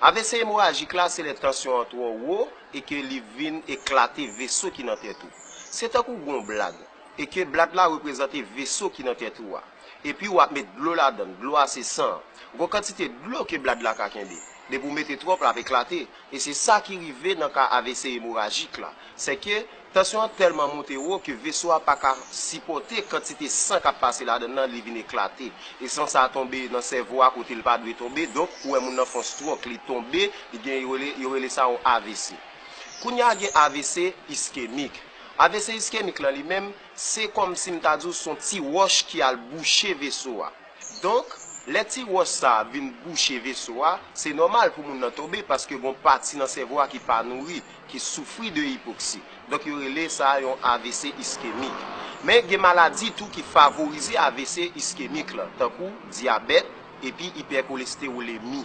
Avc emorajik la se lè tansyon an twò wo e ke li vin eklate veso ki nan tèt ou. Se tankou w gen yon blad, e ke blad la reprezante veso ki nan tèt ou a. Epi ou ap met dlo ladan l, dlo a se san an. Gen yon kantite dlo ke blad la ka kenbe. Depi ou mete twòp l ap eklate. E se sa ki rive nan ka avc emorajik la. Sèke. Tansyon an tèlman monte wo ke veso a pa ka sipòte kantite san k ap pase ladan l lan, li vin eklate. E san sa a tonbe nan sèvo a kote l pa dwe tonbe, donk ou wè moun nan fon stròk, li tonbe, li gen yo rele, yo rele sa yon avc. Kounye a gen avc iskemik. Avc iskemik lan li menm, se kòmsi m ta di w s on ti wòch ki al bouche veso a. Donk, lè ti wòch sa a vin bouche veso a, se nòmal pou moun nan tonbe paske gon pati nan sèvo a ki pa nouri, ki soufri de ipoksi. Donk yo rele sa yon avc iskemik. Men gen maladi tou ki favorize avc iskemik la, tankou dyabèt epi ipèkolestewolemi.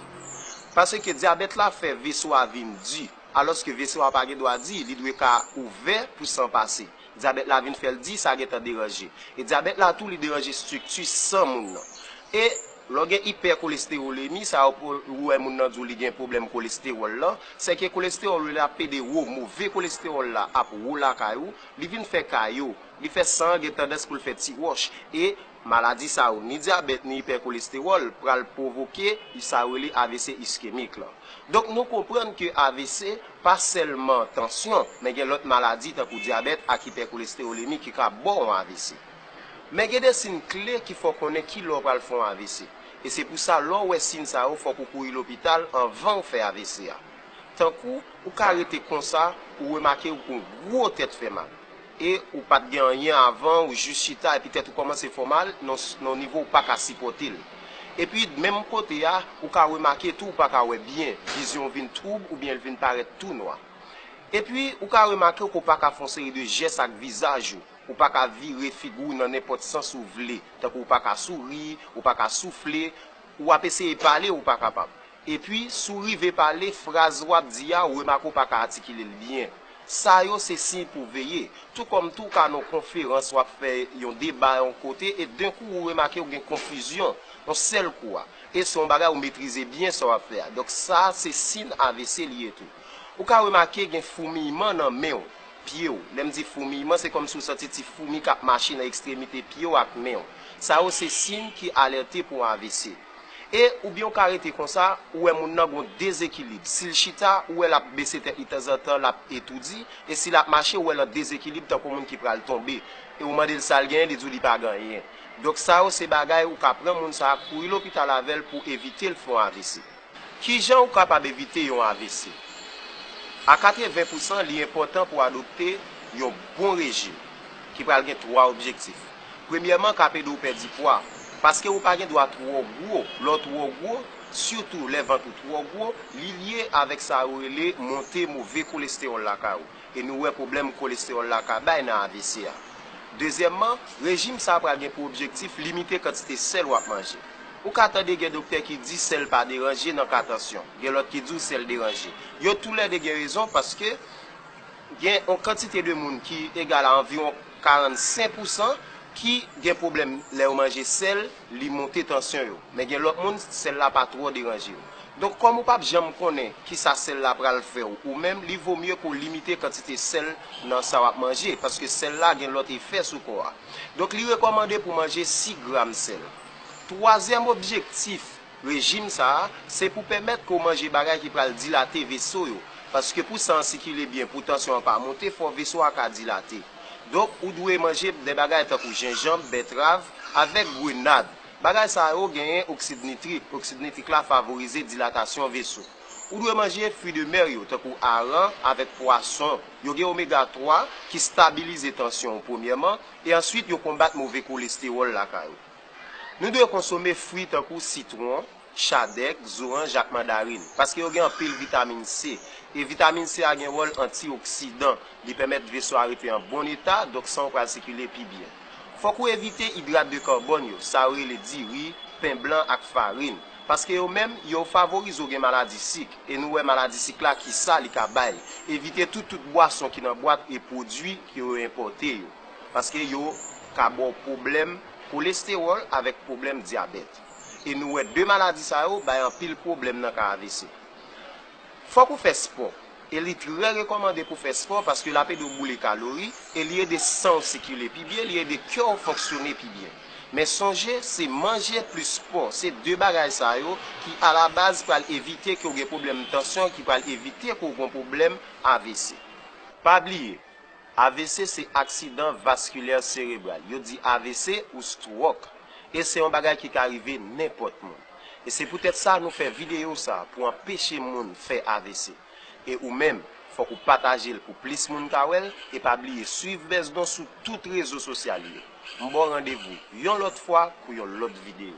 Paske dyabèt la fè veso a vin di, alòske veso a pa gen dwa di, li dwe ka ouvè pou san pase. Dyabèt la vin fè l di sa gentan deranje. E dyabèt la tou li deranje strikti san moun nan. E lè w gen ipèkolestewolemi, sa yo ou wè moun nan di w li gen pwoblèm kolestewòl lan, se ke kolestewòl ou li ap pede wo, move kolestewòl la ap wo lakay ou, li vin fè kayo, li fè san an gen tandans pou l fè ti wòch. E. Maladi sa yo, ni dyabèt ni ipèkolestewòl, pral pwovoke sa yo rele avc iskemik lan. Donk nou konprann ke avc pa sèlman tansyon, men gen lòt maladi tankou dyabèt ak ipèkolestewolemi ki ka ba w yon avc. Men gen de sin kle ki fè w konnen ki lè w pral fè yon avc. E se pou sa lè w wè sin sa yo fòk ou kouri lopital anvan w fè avc a. Tankou, ou ka rete konsa, ou remake ou gwo tèt fè mal. e ou pat gen anyen avan ou jis chita epi tèt ou kòmanse fè w mal nan yon nivo ou paka sipòte l. Epi menm kote a ou ka remake tou ou paka wè byen, vizyon w vin twoub oubyen l vin parèt tou nwa. Epi ou ka remake ke w paka fè yon seri de jès ak vizaj ou, ou paka vire figi w nan nenpòt sans ou vle, tankou ou paka souri, ou paka soufle, ou ap eseye pale ou pa kapab. Epi, si w rive pale, fraz w ap di a, remak ou pa ka atikile l byen. Sa yo se siy pou w veye. Tou kòm tou w ka nan yon konferans, w ap fè yon deba yon kote, e denkou ou remake ou gen konfizyon, yon sèl kou a. E se yon bagay ou metrize byen sa w ap fè a. Donk sa a se sin avc li ye tou. Ou ka remake gen foumiyman nan men w, pye w. Lè m di foumiyman, se kòmsi ou santi ti foumi k ap mache nan ekstremite pye w ak men w. Sa yo se siy ki alète pou yon avc. E oubyen ou ka rete konsa, ou wè moun nan gon dezekilib. Si l chita, ou wè l ap bese tèt li tanzantan, l ap etoudi. E si l ap mache, ou wè l an dezekilib tankou moun ki pral tonbe. E ou mande l sa l genyen, li di w li pa gen anyen. Donk sa yo se bagay ou ka pran moun sa a, kouri lopital avè l pou evite l fè yon avc. Kijan ou kapab evite yon avc? A 80 pousan, li enpòtan pou adopte yon bon rejim ki pral gen 3 objektif. Premyèman ka p ede w pèdi pwa, paske ou pa gen dwa twò gwo, lè w twò gwo, sitou lè vant ou twò gwo, li lye avèk sa yo rele monte move kolestewòl lakay ou, e nou wè pwoblèm kolestewòl la ka bay nan avc a. Dezyèmman, rejim sa pral gen pou objektif limite kantite sèl w ap manje. Ou ka tande gen doktè ki di sèl pa deranje nan ka tansyon, gen lòt ki di w sèl deranje. Yo toulède gen rezon paske. Gen yon kantite de moun ki egal a anviwon 45 pousan ki gen pwoblèm lè yo manje sèl, li monte tansyon yo. Men gen lòt moun sèl la pa twò deranje yo. Donk kòm ou pap janm konnen kisa sèl la pral fè w ou menm, li vo mye ke w limite kantite sèl nan sa w ap manje, paske sèl la gen lòt efè sou kò a. Donk li rekòmande pou manje 6 gram sèl. Twazyèm objektif Rejim sa a, se pou pèmèt ke w manje bagay ki pral dilate veso yo. Paske pou san an sikile byen, pou tansyon an pa monte, fò veso a ka dilate. Donk, ou dwe manje de bagay tankou jenjanb, bètrav, avèk grenad. Bagay sa yo genyen oksid nitrik. Oksid nitrik la favorize dilatasyon veso. Ou dwe manje fwi de mer yo, tankou aran, avèk pwason. Yo gen omega 3, ki stabilize tansyon w premyèman, e answit yo konbat move kolestewòl lakay ou. Nou dwe konsome fwi tankou sitwon, chadèk, zoranj ak mandarin, paske yo gen anpil vitamin C. E vitamin C a gen wòl antioksidan, li pèmèt veso a rete an bon eta, donk san w pral sikile pi byen. Fòk ou evite idrat de karbòn yo, sa yo rele diri, pen blan ak farin, paske yo menm, yo favorize w gen maladi sik, e nou wè maladi sik la kisa li ka bay. Evite tou tout bwason ki nan bwat e pwodui ke yo enpòte yo. Paske yo ka ba w pwoblèm kolestewòl avèk pwoblèm dyabèt. E nou wè 2 maladi sa yo bay anpil pwoblèm nan ka avc. Fòk ou fè spò. E li trè rekòmande pou fè spò paske l ap ede w boule kalori e li ede san w sikile pi byen, li ede kè w fonksyone pi byen. Men sonje, se manje plis spò, se 2 bagay sa yo ki alabaz pral evite ke w gen pwoblèm tansyon, ki pral evite ke w gen pwoblèm avc. Pa bliye, AVC se aksidan vaskilè serebral. Yo di avc ou stwok. E se yon bagay ki ka rive nenpòt moun. E se poutèt sa nou fè videyo sa pou anpeche moun fè avc. E ou menm, fòk ou pataje l pou plis moun ka wè l e pa bliye swiv Besdon sou tout rezo sosyal yo. M ba w randevou yon lòt fwa pou yon lòt videyo.